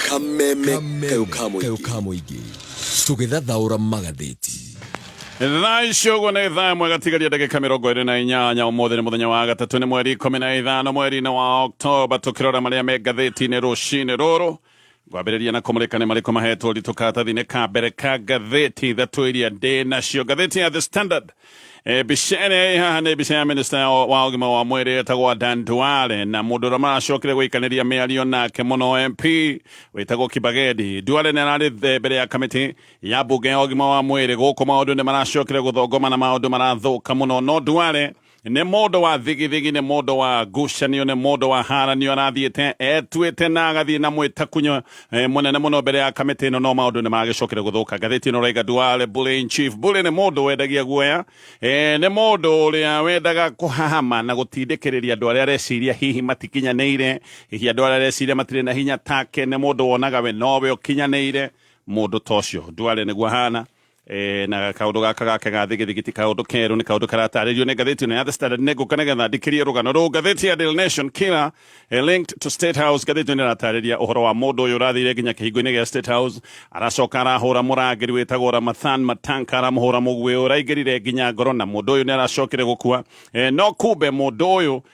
kameme kayo ka mũingĩ tũgĩthathaũra magathĩti thaa icio ũguo nĩ thaa ĩmwe gatigaria ndagĩka mĩrongo ĩrĩ na inyanya ũmũthĩ nĩ mũthenya wa gatatũ nĩ mweri ikũmi na ithano mweri-inĩ wa oktoba tũkĩrora marĩa me ngathĩti-inĩ rũcinĩ rũrũ ngwambĩrĩria na kũmũrĩka nĩ marĩkũ mahetwo ritũ karatathi-inĩ ka mbere ka ngathĩti ithatũ iria ndĩ nacio ngathĩti ya the standard E, mbica ĩrĩa ĩ haha nĩ mbica ya minista ya- wa ũgima wa mwĩrĩ etagwo Dan Duale na mũndũ ũrĩa maracokire gũikanĩria mĩario nake mũno MP wĩtagwo Kibagedi Duale nĩ ararĩ the- mbere ya kamĩtĩ ya mbunge ya ũgima wa mwĩrĩ gũkũ maũndũ nĩ maracokire gũthongoma na maũndũ marathũka mũno no Duale nĩ mũndũ wa thigithigi nĩ mũndũ wa ngucanio nĩ mũndũ wa haranio arathiĩte etuĩte na agathiĩ na mwĩtakunyo eh, mũnene mũno mbere ya kamĩtĩ ĩno no maũndũ nĩ magĩcokire gũthũka ngathĩti ĩno raiga duale bully in chief bully nĩ mũndũ wendagia guoya eh, nĩ mũndũ ũrĩa wendaga kũhahama na gũtindĩkĩrĩria andũ arĩa areciria hihi matikinyanĩire hihi andũ arĩa areciria matirĩ na hinya take nĩ mũndũ wonaga we nowe ũkinyanĩire mũndũ ta ũcio duale nĩguo hana E, na kaundu gaka gake ga thigithigiti kaundu keru ni kaundu karatarĩrio nĩ ngathĩti ĩno ya The Standard nĩ ngũka nĩgetha ndĩkĩrie rũgano rũu ngathĩti ya Daily Nation killer eh, linked to State House ngathĩti ĩno ĩratarĩria ũhoro wa mũndũ ũyũ ũrathire nginya kĩhingo-inĩ gĩa State House aracoka arahũra mũrangĩri wĩtagwo Ramathan Matanka aramũhũra mũguĩ ũraingĩrire nginya ngoro na mũndũ ũyũ nĩ aracokire gũkua Eh, no kumbe mũndũ ũyũ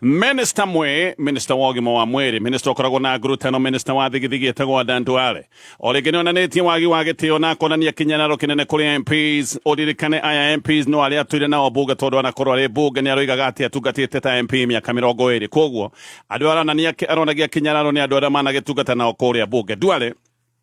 Minista mwĩ minista wa ũgima wa mwĩrĩ minista ũkoragwo na ngurutano minista wa thigithigi etagwo Adan Duale o rĩngĩ nĩ onanĩtie wagi wa gĩtĩo na akonania kinyanaro kĩnene kũrĩ MPs ũririkane aya MPs no arĩa atwire nao mbunge tondũ anakorwo arĩ mbunge nĩ aroigaga atĩ atungatĩte ta MP mĩaka mĩrongo ĩrĩ koguo andũ aronania aronagia kinyanaro nĩ andũ arĩa managĩtungata nao kũrĩa mbunge Duale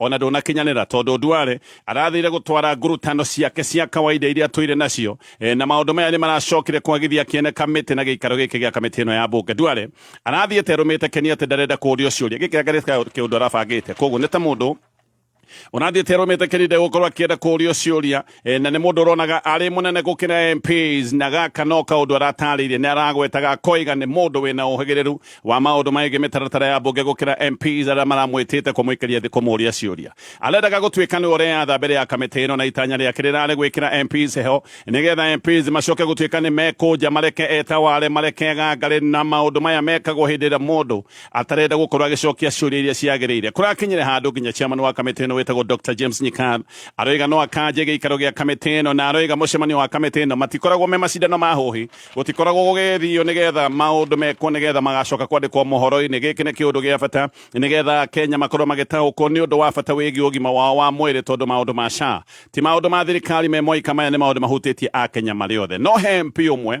Ona ndũnakinyanĩra tondũ Duale arathire gũtwara ngurutano ciake cia kawaida iria tũire nacio e, na maũndũ maya nĩ maracokire kwagithia kĩene kamĩtĩ na gĩikaro gĩkĩ gĩa kamĩtĩ ĩno ya bunge. Duale arathiĩte arũmĩte Keni atĩ ndarenda kũũrio ciũria. Gĩkĩ anga nĩ ta kĩũndũ arabangĩte? Koguo nĩ ta mũndũ ũrathiĩte arũmĩte Keni ndegũkorwo akĩenda kũũrio ciũria. E, na nĩ mũndũ ũronaga arĩ mũnene gũkĩra MPs na gaka no kaũndũ aratarĩirie nĩ aragwetaga koiga nĩ mũndũ wĩna ũhĩgĩrĩru wa maũndũ maĩgiĩ mĩtaratara ya mbunge gũkĩra MPs arĩa maramwĩtĩte kũmũikĩria thĩ kũmũria ciũria arendaga gũtuĩka nĩwe ũreyatha mbere ya kamĩtĩ ĩno na itanya rĩake rĩrarĩ gwĩkĩra MPs heho nĩgetha MPs macoke gũtuĩka nĩ mekũnja mareke etaware mareke gangarĩ na maũndũ maya mekagwo hĩndĩ ĩrĩa mũndũ atarenda gukorwo agicokia ciuria iria ciagirire kurakinyire handu nginya chairman wa kamiti ino witagwo Dr James Nyikar aroiga no akanje giikaro gia kamiti ino na aroiga mucemanio wa kamiti ino matikoragwo me macindano ma huhi gutikoragwo gugithio nigetha maundu mekwo nigetha magacoka kwandikwo mohoro-ini giki ni kiundu gia bata nigetha Kenya makorwo magitahuko ni undu wa bata wigi ugima wao wa mwiri tondu maundu ma SHA ti maundu ma thirikari me moika maya ni maundu mahutitie a Kenya mari othe no he MP umwe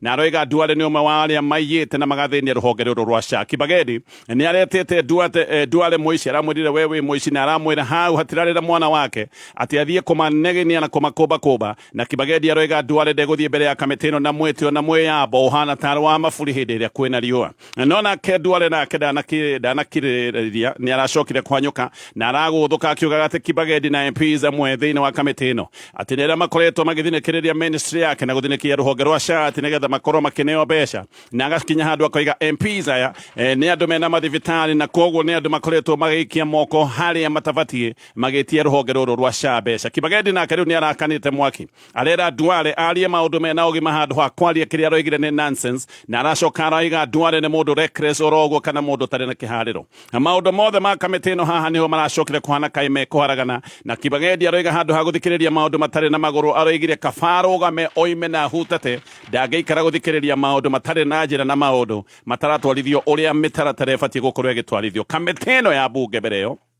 na aroiga nduare nĩ ũmwe wa arĩa maiyĩte na magathĩnia rũhonge rũrũ rwa caki bageni nĩ aretĩte nduate eh, nduare mũici aramwĩrire we wĩ mũici na aramwĩra hau hatirarĩra mwana wake atĩ athiĩ kũmaneginia na kũmakũmba kũmba na kibageni aroiga nduare ndegũthiĩ mbere ya kamĩtĩ ĩno na mwĩtĩo na mwĩyambo ũhana tarĩ wa maburi hĩndĩ ĩrĩa kwĩna riũa no nake ndware nake ndanakirĩrĩria nĩ aracokire kwanyũka na aragũthũka akiugaga atĩ kibagedi na mps amwe thĩinĩ wa kamĩtĩ ĩno atĩ nĩ arĩa makoretwo magĩthinĩkĩrĩria ministry yake na gũthinĩkia rũhonge rwa sha atĩ nĩgetha makorwo makĩneo mbeca na agakinya handũ akoiga mps aya eh, nĩ andũ mena mathibitarĩ na koguo nĩ andũ makoretwo magĩikia moko harĩa matabatiĩ magĩtia rũhonge rũrũ rwa sha mbeca kibagedi nake rĩu nĩ arakanĩte mwaki Arera Duale arie maundu mena ugima handu ha kwaria kiria aroigire ni nonsense na aracoka araiga Duale ni mundu reckless oroguo kana mundu tari na kihariro maundu mothe ma kamiti ino haha niho maracokire kuhana kai me kuharagana na Kibagendi aroiga handu ha guthikiriria maundu matari na maguru aroigire kaba arugame oime na ahutate ndangeikara guthikiriria maundu matari na njira na maundu mataratwarithio uria mitaratara ibatie gukorwo igitwarithio kamiti ino ya bunge mbere iyo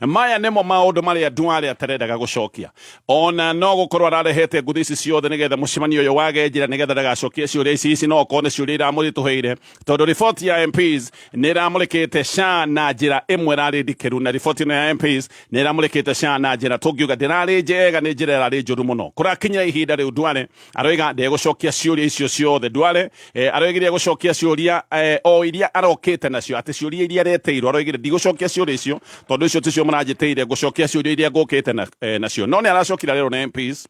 maya nĩmo maũndũ marĩa ndwarĩ atarendaga gũcokia ona no gũkorwo ararehete nguthi ici ciothe nĩgetha mũcemanio ũyũ wage njĩra nĩgetha ndagacokie ciũria ici ici no okorwo nĩ ciũria iramũritũhĩire tondũ riboti ya MPs nĩ ĩramũrĩkĩte SHA na njĩra ĩmwe ĩrarĩ ndikĩru na riboti ĩno ya MPs nĩ ĩramũrĩkĩte SHA na njĩra tũngiuga ndĩrarĩ njega nĩ njĩra ĩrarĩ njũru mũno kũrakinyira ihinda rĩu ndware aroiga ndegũcokia ciũria icio ciothe ndware eh, aroigire egũcokia ciũria eh, o iria arokĩte nacio atĩ ciũria iria areteirwo aroigire ndigũcokia ciũria icio tondũ icio ticio mũranjĩtĩire ngũcokia ciũria iria ngũkĩte na- eh, nacio no nĩ aracokire arerwo nĩ MPs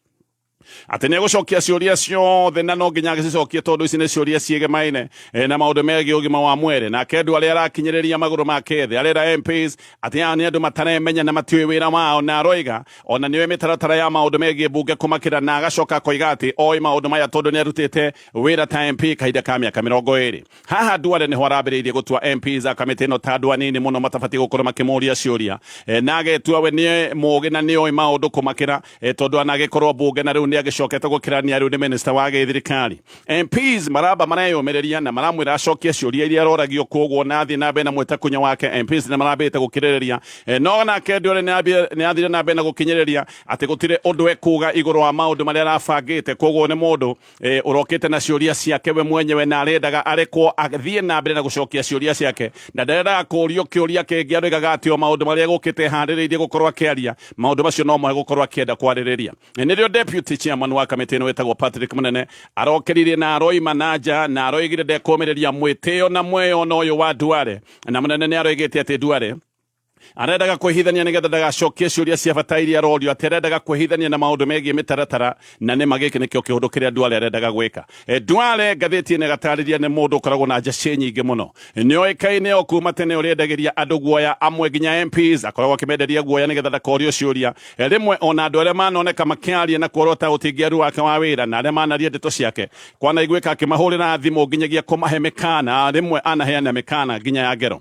atä nä egåcokia ciåria ciothe na no nginya agäcicokie tondå ici nä ciåria ciägemaine eh, na maå ndå megiä å gima wa mwere nake andå arä a arakinyä rä ria magå rå make thä arera mps atä aya nä andå mataremenya na matiå wä ra wao na aroiga O na nĩoĩ mĩtaratara ya maũndũ megiĩ mbunge kũmakĩra na agacoka akoiga atĩ oĩ maũndũ maya tondũ nĩarutĩte wĩra ta MP kahinda ka mĩaka mĩrongo ĩrĩ. Haha Duale nĩho arambĩrĩirie gũtua MPs a kamĩtĩ ĩno ta andũ anini mũno matabatiĩ gũkorwo makĩmũria ciũria na agetua we nĩ mũũgĩ na nĩoĩ maũndũ kũmakĩra tondũ anagĩkorwo mbunge na rĩu nĩagĩcokete gũkĩrania rĩu nĩ mĩnĩcita wa gĩthirikari. MPs maramba mareyũmĩrĩria na maramwĩra acokie ciũria iria aroragio koguo na athiĩ na mbere na mwĩtakunya wake MPs nĩ marambĩte gũkirĩrĩria Eh, no nake Duale nĩ ambie- nĩ athire na mbere na gũkinyĩrĩria atĩ gũtirĩ ũndũ ekuga igũrũ wa maũndũ marĩa arabangĩte koguo nĩ mũndũ eh, ũrokĩte na ciũria ciake we mwenyewe na arendaga arekwo athiĩ na mbere na gũcokia ciũria ciake na ndarendaga kũũrio kĩũria kĩngĩ aroigaga atĩ o maũndũ marĩa egũkĩte handĩrĩirie gũkorwo akĩaria maũndũ macio no moe gũkorwo akĩenda kwarĩrĩria nĩrĩo deputy chairman wa kamĩtĩ ĩno wĩtagwo Patrick Mũnene arokeririe na aroima na nja na aroigire ndekũmĩrĩria mwĩtĩo na mweyona ũyũ wa Duale na Mũnene nĩ aroigĩte atĩ Duale arendaga kwĩhithania nĩgetha ndagacokie ciũria cia bata iria arorio atĩ arendaga kwĩhithania na maũndũ megiĩ mĩtaratara na nĩ magĩkĩ nĩkĩo kĩũndũ kĩrĩa Duale arendaga gwĩka E, Duale ngathĩti ĩno ĩgatarĩria nĩ mũndũ ũkoragwo na njacĩ nyingĩ mũno nĩ oĩkaine o kuma tene ũrĩa endagĩria andũ guoya amwe nginya MPs akoragwo akĩmenderia guoya nĩgetha ndakorio ciũria E, rĩmwe ona andũ arĩa manoneka makĩaria na kuorota ũtingiaru wake wa wĩra na arĩa manaria ndeto ciake kwanaiguĩka akĩmahũrĩra thimũ nginyagia kũmahe mĩkana rĩmwe anaheana mĩkana nginya ya ngero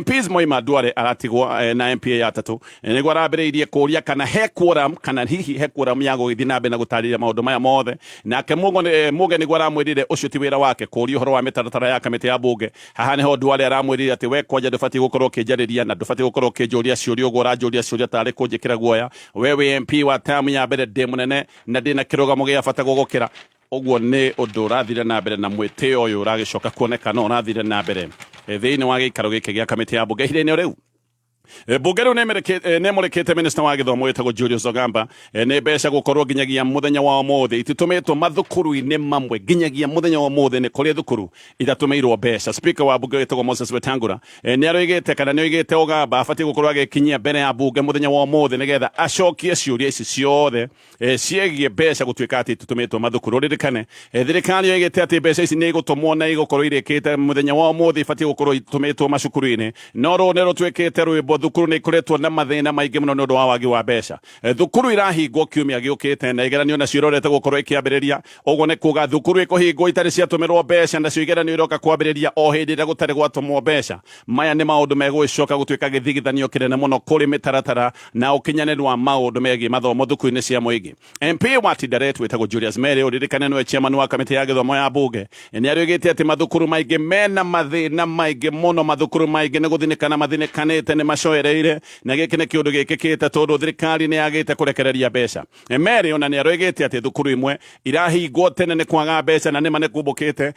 MPs moima Duale aratigwo eh, na MPA ya tatu eh, niguo arambĩrĩirie kũria kana he quorum kana hihi he quorum ya gũgĩthiĩ na mbere na gũtarĩria maũndũ maya mothe nake eh, Muge niguo aramwĩrire ũcio ti wĩra wake kũria ũhoro wa mĩtaratara ya kamĩtĩ ya mbunge haha nĩho Duale aramwĩrire atĩ we kwanja ndũbatiĩ gũkorwo ũkĩnjarĩria na ndũbatiĩ gũkorwo ũkĩnjũria ciũria ũguo ũranjũria ciũria tarĩ kũnjĩkĩra guoya we wĩ MP wa tamu ya mbere ndĩ mũnene na ndĩ na kĩrũgamo gĩa bata gũgũkĩra Ũguo nĩ ũndũ ũrathire na mbere na mwĩtĩo ũyũ ũragĩcoka kuoneka no ũrathire na mbere eh, thĩinĩ wa gĩikaro gĩkĩ gĩa kamĩtĩ ya mbunge ihinda-inĩ rĩu Eh, mbunge rĩu nĩmũrĩkĩte eh, minista wa gĩthomo wĩtagwo Julius Ogamba eh, nĩ mbeca gũkorwo nginyagia mũthenya wa ũmũthĩ ititũmĩtwo mathukuru-inĩ mamwe nginyagia mũthenya wa ũmũthĩ nĩ kũrĩ thukuru itatũmĩirwo mbeca spika wa mbunge wĩtagwo Moses Wetangula nĩ aroigĩte kana nĩ oigĩte Ogamba abatiĩ gũkorwo agĩkinyia mbere ya mbunge mũthenya wa ũmũthĩ nĩgetha acokie ciũria ici ciothe eh, ciegiĩ mbeca gũtuĩka atĩ tũtũmĩtwo mathukũ rũririkane eh, thirikari yoigĩte atĩ mbeca ici nĩ igũtũmwo na igũkorwo irĩkĩte mũthenya wa ũmũthĩ ibatiĩ gũkorwo itũmĩtwo macukuru-inĩ no rũũ nĩ rũtuĩkĩte rwĩmbo thukuru nĩ ikoretwo na mathĩna maingĩ mũno nĩ ũndũ wa wagi wa mbeca eh, thukuru irahingwo kiumia gĩũkĩte na igeranio nacio irorete gũkorwo ikĩambĩrĩria ũguo nĩ kuga thukuru ikũhingwo itarĩ ciatũmĩrwo mbeca nacio igeranio iroka kwambĩrĩria o hĩndĩ ĩrĩa gũtarĩ gwatũmwo mbeca maya nĩ maũndũ megũgĩcoka gũtuĩka gĩthigithanio kĩnene mũno kũrĩ mĩtaratara na ukinyanĩru wa maũndũ megiĩ mathomo thukuru-inĩ cia mũingĩ. MP wa Tinderet wĩtagwo Julius Mary ũririkane nĩwe chairman wa kamĩtĩ ya gĩthomo ya mbunge nĩarĩgĩte atĩ mathukuru maingĩ mena mathĩna maingĩ mũno mathukuru maingĩ nĩ gũthinĩkana mathinĩkanĩte nĩ macoereire na gĩkĩ nĩ kĩũndũ gĩkĩkĩte tondũ thirikari nĩ yagĩte kũrekereria mbeca. Mary ona nĩarĩgĩte atĩ thukuru imwe irahingwo tene nĩ kwaga mbeca na nĩma nĩ kumbũkĩte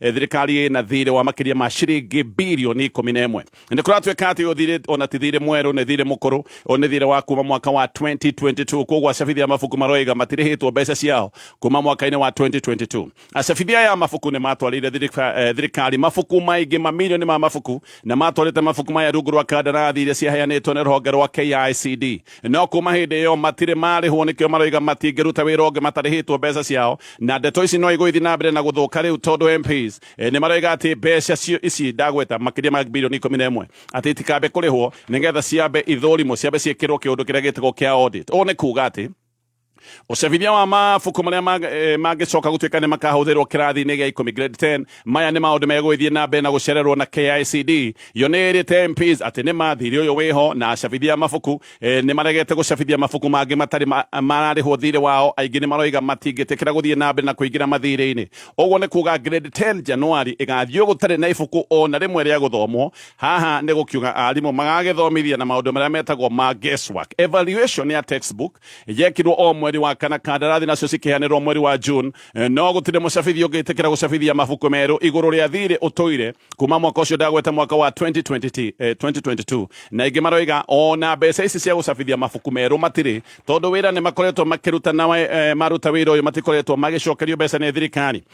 Eh, thirikari na thirĩ wa makĩria ma ciringi birioni ikũmi na ĩmwe nĩ kũratuĩka atĩ ũyũ thirĩ ona ti thirĩ mwerũ nĩ thirĩ mũkũrũ ũyũ nĩ thirĩ wa kuma mwaka wa 2022 koguo acabithia mabuku maroiga matirĩhĩtwo mbeca ciao kuma mwaka-inĩ wa 2022 acabithia ya mabuku nĩ matwarĩire thirika- eh, thirikari mabuku maingĩ mamirioni ma mabuku na matwarĩte mabuku maya rungu rwa kandarathi iria ciaheanĩtwo nĩ rũhonge rwa KICD no kuma hĩndĩ ĩyo matirĩ marĩhwo nĩkĩo maroiga matingĩruta wĩra ũngĩ matarĩhĩtwo mbeca ciao na ndeto ici no igũithi na mbere na gũthũka rĩu tondũ MPs eh, nĩ maroiga atĩ mbeca cio ici ndagweta makĩria ma bilioni ikũmi na ĩmwe atĩ itikambe kũrĩhwo nĩgetha ciambe ithũrimwo ciambe ciĩkĩrwo kĩũndũ kĩrĩa gĩtagwo kĩa audit ũũ nĩ kuga atĩ Ũcabithia wa mabuku marĩa mangĩcoka gũtuĩka nĩ makahũthĩrwo kĩrathi-inĩ gĩa ikũmi grade 10 maya nĩ maũndũ megũgĩthiĩ na mbere na gũcererwo na KICD yo nĩ ĩrĩte MPs atĩ nĩ ma thirĩ ũyũ wĩho na acabithia a mabuku nĩ maregete gũcabithia mabuku mangĩ matarĩ mararĩhwo thirĩ wao aingĩ nĩ maroiga matingĩtĩkĩra gũthiĩ na mbere na kũingĩra mathirĩ-inĩ ũguo nĩ kuga grade 10 Januari ĩgathiĩ gũtarĩ na ibuku ona rĩmwe rĩa gũthomwo Haha nĩ gũkiuga arimũ magagĩthomithia na maũndũ marĩa metagwo ma guesswork. Evaluation ya textbook yekirwo o mweri wa kana, kandarathi nacio cikĩheanĩrwo mweri wa June, eh, no gũtirĩ mũcabithia ũngĩtĩkĩra gũcabithia mabuku merũ igũrũ rĩa thirĩ ũtũire kuma mwaka ũcio ndagwete mwaka wa 2020, eh, 2022 na ingĩ maroiga ona mbeca ici cia gũcabithia mabuku merũ matirĩ tondũ wĩra nĩ makoretwo makĩruta na eh, maruta wĩra ũyũ matikoretwo magĩcokerio mbeca nĩ thirikari.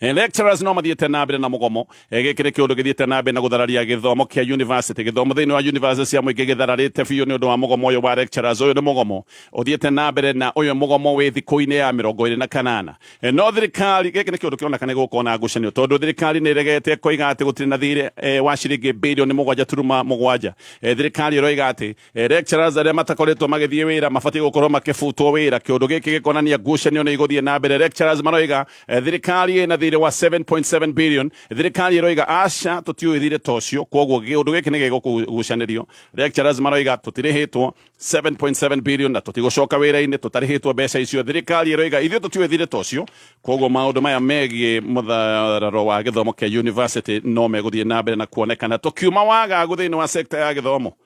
Eh, lecturers no mathiĩte na mbere na mũgomo eh, gĩkĩ nĩ kĩũndũ gĩthiĩte na mbere na gũthararia gĩthomo kĩa university gĩthomo thĩinĩ wa university cia mũingĩ gĩthararĩte biũ nĩ ũndũ wa mũgomo ũyũ wa lecturers ũyũ nĩ mũgomo ũthiĩte na mbere na ũyũ mũgomo wĩ thikũ-inĩ ya mĩrongo ĩrĩ na kanana eh, no thirikari gĩkĩ nĩ kĩũndũ kĩroneka nĩ gũkorwo na ngucanio tondũ thirikari nĩ ĩregete koiga atĩ gũtirĩ na thiirĩ wa ciringi bilioni mũgwanja turuma mũgwanja thirikari ĩroiga atĩ Eh, lecturers arĩa matakoretwo magĩthiĩ wĩra mabatiĩ gũkorwo makĩbutwo wĩra kĩũndũ gĩkĩ gĩkonania ngucanio nĩ igũthiĩ na mbere lecturers maroiga eh, thirikari ĩna thirĩ wa 7.7 billion thirikari ĩroiga aca tũtiũĩ thirĩ ta ũcio koguo kĩũndũ gĩkĩ nĩ gĩgũgucanĩrio lecturers maroiga tũtirĩhĩtwo 7.7 billion na tũtigũcoka wĩra-inĩ tũtarĩhĩtwo mbeca icio thirikari ĩroiga ithuĩ tũtiũĩ thirĩ ta ũcio koguo maũndũ maya megiĩ mũthararo wa gĩthomo kĩa university no megũthiĩ na mbere na kuonekana tũkiuma wagagu thĩinĩ wa sekta ya gĩthomo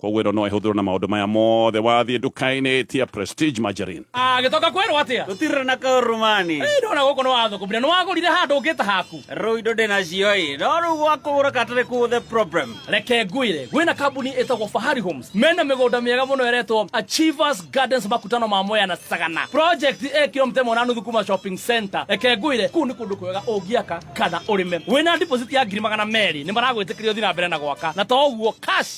Koguo ĩno no ĩhũthĩrwo na maũndũ maya mothe wathiĩ nduka-inĩ tia Prestige Margarine. agĩcoka kwerwo atĩa Tũtirĩ na kaurumani. Ĩ, ndona gũkũ nĩ wathũkũmire nĩ wagũrire handũ ũngĩ ta haku Rĩu indo ndĩ nacio ĩ. No rĩu gwa kũgũra katarĩ kũ the problem. reke ngwĩre gwĩ na kambuni ĩtagwo fahari homes mena mĩgũnda mĩega mũno ĩretwo achievers gardens makutano ma mwea na sagana project ĩ kilomita ĩmwe na nuthu kuma shopping center reke ngwĩre kũu nĩ kũndũ kwega ũngĩaka kana ũrĩme wĩna deposit ya ngiri magana merĩ nĩ maragwĩtĩkĩria ũthiĩ na mbere na gwaka na to ũguo cash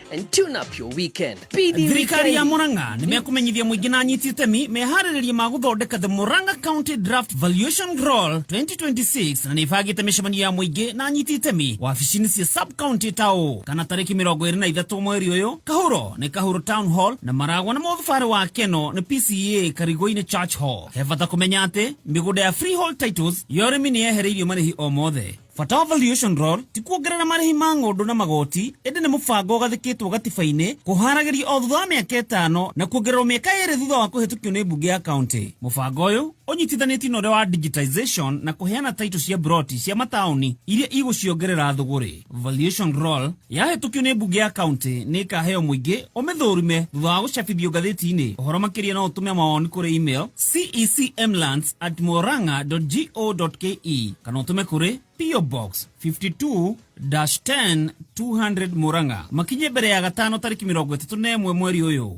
and tune up your weekend. Thirikari ya Murang'a nĩ mekũmenyithia mũingĩ na anyiti itemi meharĩrĩria ma gũthondeka the Murang'a County Draft Valuation Roll 2026 na nĩ ibangĩte mĩcemanio ya mũingĩ na anyiti itemi wabici-inĩ cia sub county ta ũũ kana tarĩki mĩrongo ĩrĩ na ithatũ mweri ũyũ kahuro nĩ kahuro town hall na maragwa na mũthubarĩ wa keno nĩ PCA Karigũ-inĩ Church Hall he bata kũmenya atĩ mĩgũnda ya freehold titles ya ũrĩmi nĩ yehereirio marĩhi o mothe Bata wa Valuation Roll ti kuongerera marĩhi ma ng'ũndũ na magoti, ĩndĩ nĩ mũbango ũgathĩkĩtwo gatiba-inĩ kũhaaragĩrio o thutha wa mĩaka ĩtano na kuongererwo mĩaka ĩĩrĩ thutha wa kũhĩtũkio nĩ mbunge ya kaũntĩ. Mũbango ũyũ ũnyitithanĩtio na ũrĩa wa Digitisation na kũheana taitũ cia mburoti cia mataũni iria igũciongerera thũgũrĩ. Valuation Roll. Yahĩtũkio nĩ mbunge ya kaunti nĩ ĩkaheo mũingĩ ũmĩthũrime thutha wa gũcabithio ngathĩti-inĩ. Ũhoro makĩria no ũtũme mawoni kũrĩ email cecmlands at moranga.go.ke kana ũtũme kũrĩ PO Box 52-10 200 Murang'a makinye mbere ya gatano tarĩki mĩrongo ĩtatũ na ĩmwe mweri ũyũ.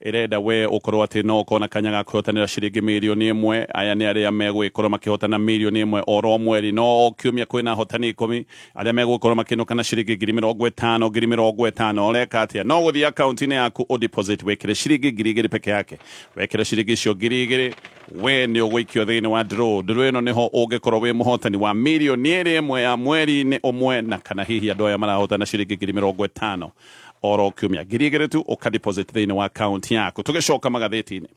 ĩrenda we ũkorwo atĩ no ũkorwo na kanya ga kwĩhotanĩra ciringi mirioni ĩmwe aya nĩ arĩa megũgĩkorwo makĩhotana mirioni ĩmwe oro mweri no o kiumia kwĩna ahotani ikũmi arĩa megũgĩkorwo makĩinũka na ciringi ngiri mĩrongo ĩtano ngiri mĩrongo ĩtano ũreka atĩa no gũthiĩ akaunti-inĩ yaku ũ deposit wĩkĩre ciringi ngiri igĩrĩ peke yake wekĩra ciringi icio ngiri igĩrĩ we nĩ ũgũikio thĩinĩ wa draw draw ĩno nĩho ũngĩkorwo wĩ mũhotani wa mirioni ĩrĩ ĩmwe ya mweri-inĩ ũmwe na kana hihi andũ aya marahotana ciringi ngiri mĩrongo ĩtano oro kiumia ngiri igĩrĩ tu ũka deposit thĩinĩ wa akaunti yaku tũgĩcoka magathĩti-inĩ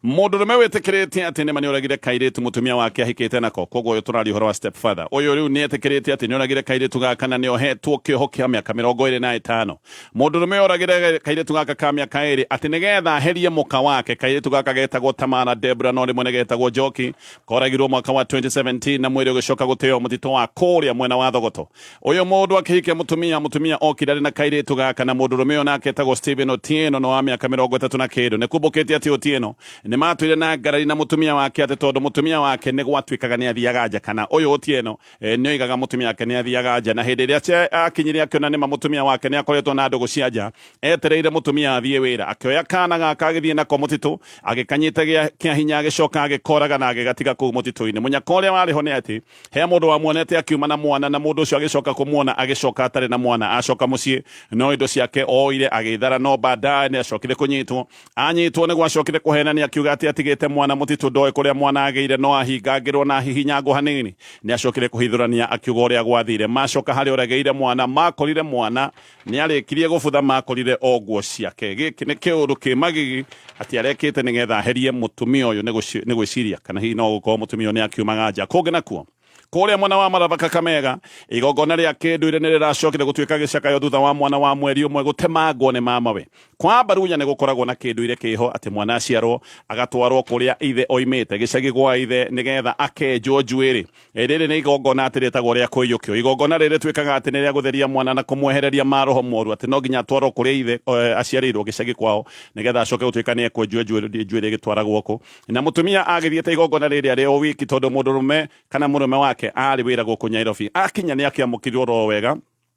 mũndũrũme wĩtĩkĩrĩtie atĩ nĩma nĩoragire kairĩtu mũtumia wake ahikĩte nako koguo ũyũ tũraria ũhoro wa step father ũyũ rĩu nĩetĩkĩrĩtie atĩ nĩoragire kairĩtu gaka na nĩohetwo kĩoho kĩa mĩaka mĩrongo ĩrĩ na ĩtano mũndũrũme oragire kairĩtu gaka ka mĩaka ĩrĩ atĩ nĩgetha aherie mũka wake kairĩtu gaka getagwo tamara debra no rĩmwe nĩgetagwo njoki koragirwo mwaka wa 2017 na mwĩrĩ ũgĩcoka gũteo mũtitũ wa kũrĩa mwena wa thogoto Ũyũ mũndũ akĩhikia mũtumia, mũtumia okire arĩ na kairĩtu gaka, na mũndũrũme ũyũ nake etagwo Stephen Otieno, nĩ wa mĩaka mĩrongo ĩtatũ na kĩndũ. Nĩ kumbũkĩte atĩ Otieno nĩ maatũire na ngarari na mũtumia wake atĩ tondũ mũtumia wake nĩ gwatuĩkaga nĩ athiaga nja, kana ũyũ Otieno nĩ oigaga mũtumia wake nĩ athiaga nja, na hĩndĩ ĩrĩa aakinyire akĩona nĩ ma mũtumia wake nĩ akoretwo na ndũgũ cia nja, etereire mũtumia athiĩ wĩra. Akĩoya kaana gaka agĩthiĩ nako mũtitũ, agĩkanyita gĩa kĩa hinya agĩcoka agĩkoraga na agĩgatiga kũu mũtitũ-inĩ. Mũnyaka ũrĩa warĩ ho nĩ atĩ, He mũndũ wamuonete akiuma na mwana, na mũndũ ũcio agĩcoka kũmuona agĩcoka atarĩ na mwana acoka mũciĩ, no indo ciake oire agĩthara, no baadaye nĩ acokire kũnyitwo. Anyitwo nĩguo acokire kũhenania akiuga atĩ atigĩte mwana mũtitũ, ndoĩ kũrĩa mwana agĩire, no ahingangĩrwo na ahihinyangwo hanini. Nĩ acokire kũhithũrania akiuga ũrĩa gwathire. Macoka harĩa ũrĩa agĩire mwana, makorire mwana Nĩarĩkirie gũbutha makũrire o nguo ciake. Gĩkĩ nĩ kĩũndũ kĩ magigi atĩ arekĩte nĩgetha aherie mũtumia ũyũ nĩ gwĩciria kana hihi no gũkorwo mũtumia ũyũ nĩakiumaga nja. Kũngĩ nakuo, kũrĩa mwena wa Maraba Kakamega, igongona rĩa kĩndũire nĩrĩracokire gũtuĩka gĩcakayo thutha wa mwana wa mweri ũmwe gũtemangwo nĩ mamawe. Kwa Abaluhya nĩgũkoragwo na kĩndũire kĩho atĩ mwana aciarwo agatwarwo kũrĩa ithe oimĩte, gĩcagi gwa ithe, nĩgetha akenjwo njuĩrĩ. Rĩrĩ nĩ igongona atĩ rĩtagwo rĩa kũiyũkio. Igongona rĩrĩ rĩtuĩkaga atĩ nĩ rĩa gũtheria mwana na kũmwehereria maroho moru, atĩ no nginya atwarwo kũrĩa ithe eh, aciarĩirwo gĩcagi kwao, nĩgetha acoke gũtuĩka nĩ ekwenjwo njuĩrĩ njuĩrĩ ĩgĩtwaragwo kũ. Na mũtumia agĩthiĩte igongona rĩrĩ arĩ o wiki, tondũ mũndũrũme kana mũrũme wake aarĩ wĩra gũkũ Nyairobi. Akinya nĩ akĩamũkirirwo ro wega,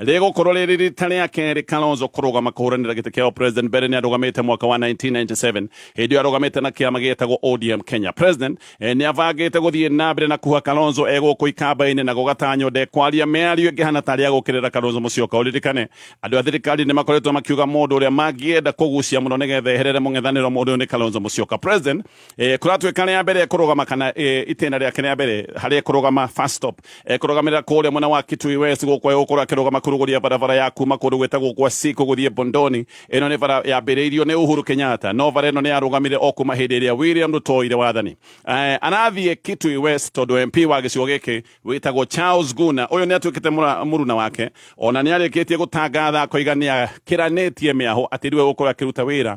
rĩgũkorwo rĩrĩ rita rĩa kerĩ Kalonzo kũrũgama kũhũranĩra gĩtĩ kĩa president mbere nĩ arũgamĩte mwaka wa 1997 hĩndĩ ĩyo arũgamĩte na kĩama gĩtagwo ODM Kenya president eh, nĩ abangĩte gũthiĩ na mbere na kuha Kalonzo e gũkũ ikamba-inĩ na gũgatanywo ndekwaria mĩario ĩngĩ hana tarĩ ya gũkĩrĩra Kalonzo Musyoka ũririkane andũ a thirikari nĩ makoretwo makiuga mũndũ ũrĩa mangĩenda kũgucia mũno nĩgetha eherere mũng'ethanĩro mũndũ ũyũ nĩ Kalonzo Musyoka president eh, kũratuĩka rĩa mbere kũrũgama kana eh, itĩna rĩake rĩa mbere harĩ kũrũgama first stop eh, kũrũgamĩrĩra kũrĩa mwena wa Kitui West gũkũ gũkũra akĩrũgama kũrũgũria barabara ya kuma kũndũ gwĩtagwo gwa Siko gũthiĩ Bondoni ĩno nĩ bara yambĩrĩirio nĩ Uhuru Kenyatta no bara ĩno nĩ yarũgamire o kuma hĩndĩ ĩrĩa William Ruto oire wathani eh, arathiĩ Kitui West tondũ MP wa gĩcigo gĩkĩ wĩtagwo Charles Guna ũyũ nĩ atuĩkĩte mũra- mũruna wake ona nĩ arĩkĩtie gũtangatha akoiga nĩ akĩranĩtie mĩaho atĩ rĩu egũkorwo akĩruta wĩra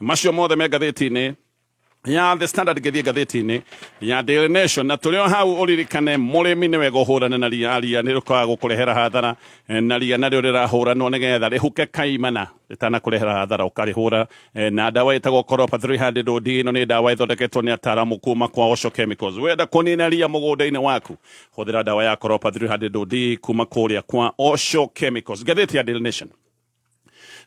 macio mothe me ngathĩti-inĩ ya the standard ngĩthiĩ ngathĩti-inĩ ya daily nation na tũrĩ o hau ũririkane mũrĩmi nĩ wega ũhũrane na ria ria nĩ rĩkaga gũkũrehera hathara eh, na ria narĩo rĩrahũranwo nĩ getha rĩhuke kaimana rĩtanakũrehera hathara ũkarĩhũra eh, na ndawa ĩtagwo koropa 300 od ĩno nĩ ndawa ĩthondeketwo nĩ ataramu kuma kwa oco chemicals wenda kũnina ria mũgũnda-inĩ waku hũthĩra ndawa ya koropa 300 od kuma kũrĩa kwa oco chemicals ngathĩti ya daily nation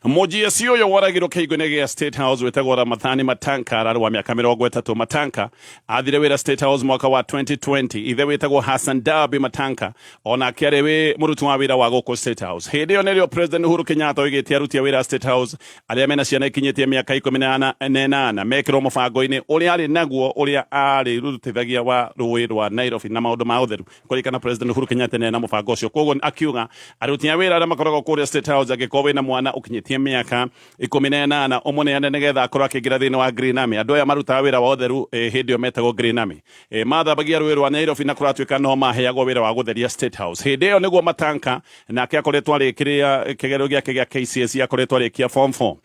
mũjĩaci ũyũ woragirwo kĩhingo-inĩ gĩa state house wĩtagwo ramathani matanka ararĩ wa mĩaka mĩrongo ĩtatũ matanka athire wĩra state house mwaka wa 2020 ithe wĩtagwo hassan dabi matanka onake arĩ wĩ mũruti wa wĩra wa gũkũ state house hĩndĩ ĩyo nĩrĩo president uhuru kenyatta oigĩte aruti a wĩra state house arĩa mena ciana ikinyĩtie mĩaka ikũmi na ana- na ĩnana mekĩrwo mũbango-inĩ ũrĩa arĩ naguo ũrĩa arĩ rutithagia wa rũĩ rwa nairobi na maũndũ ma ũtheru kũrikana president Uhuru Kenyatta nĩ na mũbango ũcio koguo akiuga aruti a wĩra arĩa makoragwo kũrĩa State House angĩkorwo wĩna mwana ũkinyĩtie mĩaka ikũmi na ĩnana ũmũneane nĩgetha akorwo akĩingĩra thĩinĩ wa Green Army andũ aya marutaga wĩra wa ũtheru eh, hĩndĩ ĩyo metagwo Green Army Eh, mathambagia rũĩ rwa Nairobi na kũratuĩka no maheagwo wĩra wa gũtheria State House hĩndĩ ĩyo nĩguo matanka nake akoretwo arĩkĩrĩa kĩgerio gĩake gĩa KCSE akoretwo arĩkia form 4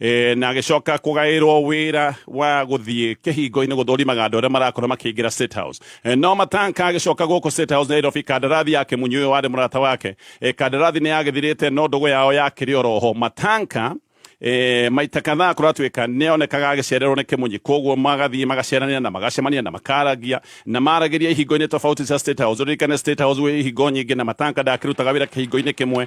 e, na agĩcoka kũgaĩrwo wĩra wa gũthiĩ kĩhingo-inĩ gũthũrimaga andũ arĩa marakorwo makĩingĩra State House e, no matanka agĩcoka gũkũ State House Nairobi kandarathi yake munyi ũyũ warĩ mũrata wake e, kandarathi nĩ yagĩthirĩte no ndũgũ yao yakĩrĩ oroho matanka e, maita kadhaa kũratuĩka nĩonekaga agĩcererwo nĩ kĩmunyi koguo magathiĩ magaceranĩra na magacemania na makaragia na maragĩria ihingo-inĩ tofauti cia State House ũririkane State House gwĩ ihingo nyingĩ na matanka ndakĩrutaga wĩra kĩhingo-inĩ kĩmwe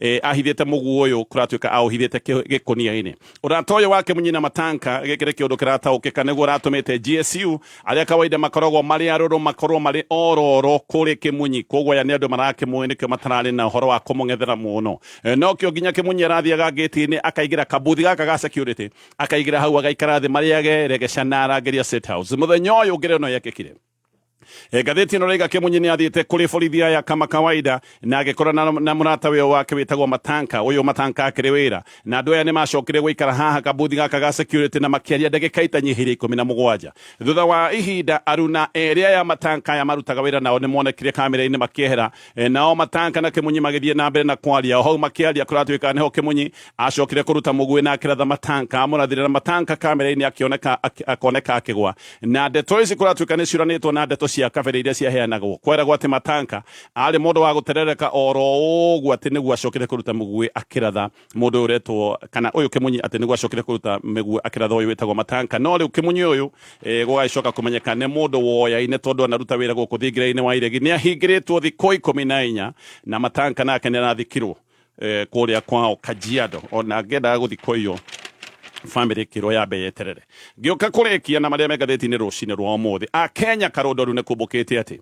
eh, ahithite mugu uyu kuratuika auhithite gikunia-ini urata uyu wake munyina matanka giki ni kiundu kirataukika niguo uratumite gsu aria kawaida makoragwo mari aruru makorwo mari ororo kuri kimunyi koguo aya ni andu marakimui nikio matarari na uhoro wa kumung'ethera muno Eh, nokio nginya kimunyi arathiaga ngĩti-inĩ akaingĩra kabuthi gaka ga security akaingĩra hau agaikara thĩ marĩage regecana arangĩria state house mũthenya ũyũ ngĩrĩ no yekĩkire E, ngathĩti ĩno raiga kĩmunyi nĩ athiĩte kũrĩ borithi aya kama kawaida na agĩkora na, na mũrata wĩyo wake wĩtagwo matanka ũyũ matanka akĩrĩ wĩra na andũ aya nĩ macokire gũikara haha kabuthi gaka ga security na makĩaria ndagĩka itanyihĩire ikũmi na mũgwanja thutha wa ihinda aruna erĩ aya matanka aya marutaga wĩra nao nĩ monekire kamera-inĩ makĩehera E, nao matanka na kimunyi magithie na mbere na kwaria hau makiaria kuratuika niho kimunyi acokire kuruta mugui na akiratha matanka amurathire na matanka kamera-ini akioneka akoneka akigwa na ndeto ici kuratuika ni ciuranitwo na ndeto cia kabere iria ciaheanagwo kweragwo ati matanka ari mundu wa guterereka oro uguo ati niguo acokire kuruta mugui akiratha mundu uretwo kana uyu kimunyi ati niguo acokire kuruta miguo akiratha uyu witagwo matanka no riu kimunyi uyu eh, gugacoka kumenyeka ni mundu woyaine tondu anaruta wira guku thingiraini wa iregi ni ahingiritwo thikå ikumi na inya na matanka nake ni arathikirwo eh, kuria kwao kajiado ona ngendaga guthi kuiyo family kirwo ya mbere eterere ngioka kurekia na maria me ngatheti-inĩ rũcinĩ rwa ũmũthĩ akenya karũndoru nĩ kumbũkĩte atĩ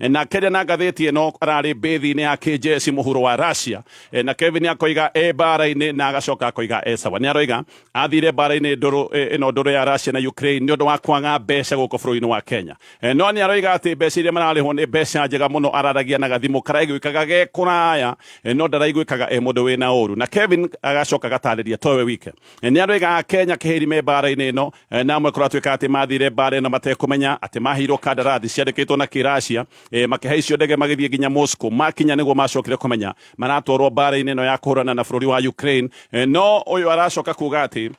E, na keria na ngathĩti ĩno ararĩ mbĩthi-inĩ ya kĩnjeci mũhuro wa Russia e, na Kevin akoiga e mbara-inĩ na agacoka akoiga e sawa nĩ aroiga athire mbara-inĩ ndũrũ e, ĩno ndũrũ ya Russia na Ukraine nĩ ũndũ wa kwaga mbeca gũkũ bũrũri-inĩ wa Kenya e, no nĩ aroiga atĩ mbeca iria mararĩhwo nĩ mbeca njega mũno araragia na gathimũ karaiguĩkaga ge kũraya e, no ndaraiguĩkaga e mũndũ wĩna ũru na Kevin agacoka agatarĩria towe wike e, nĩ aroiga Kenya kĩhĩri me mbara-inĩ ĩno E, na amwe kũratuĩka atĩ mathire mbaara ĩno matekũmenya atĩ maheirwo kandarathi ciandĩkĩtwo na kĩracia e, makĩhaicio ndege magĩthiĩ nginya Moscow makinya nĩguo macokire kũmenya maratwarwo mbaara-inĩ ĩno ya kũhũrana na bũrũri wa Ukraine e, no ũyũ aracoka kuga atĩ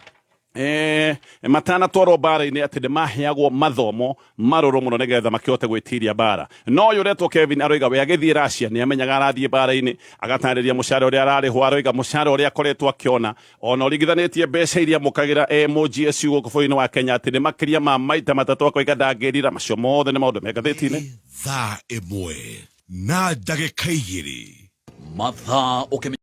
Eh, matanatwarwo mbara-inĩ atä nä maheagwo mathomo marå må no nä getha makähote gwä tiria mbara no å yå retwo kevin aroiga we agä thiä racia nä amenyaga arathiä mbara-inä agatarä ria må cara å rä a ararä hwo aroiga må cara å rä a akoretwo akä ona Ona ũringithanĩtie mbeca iria mũkagĩra e mũGSU gũkũ bũrũri-inĩ wa Kenya atĩ nĩ makĩria ma maita matatũ akoiga ndangĩrira. Macio mothe nĩ maũndũ me ngathĩti-inĩ. Nĩ thaa ĩmwe na ndagĩka igĩrĩ. Mathaa ũkĩmenya.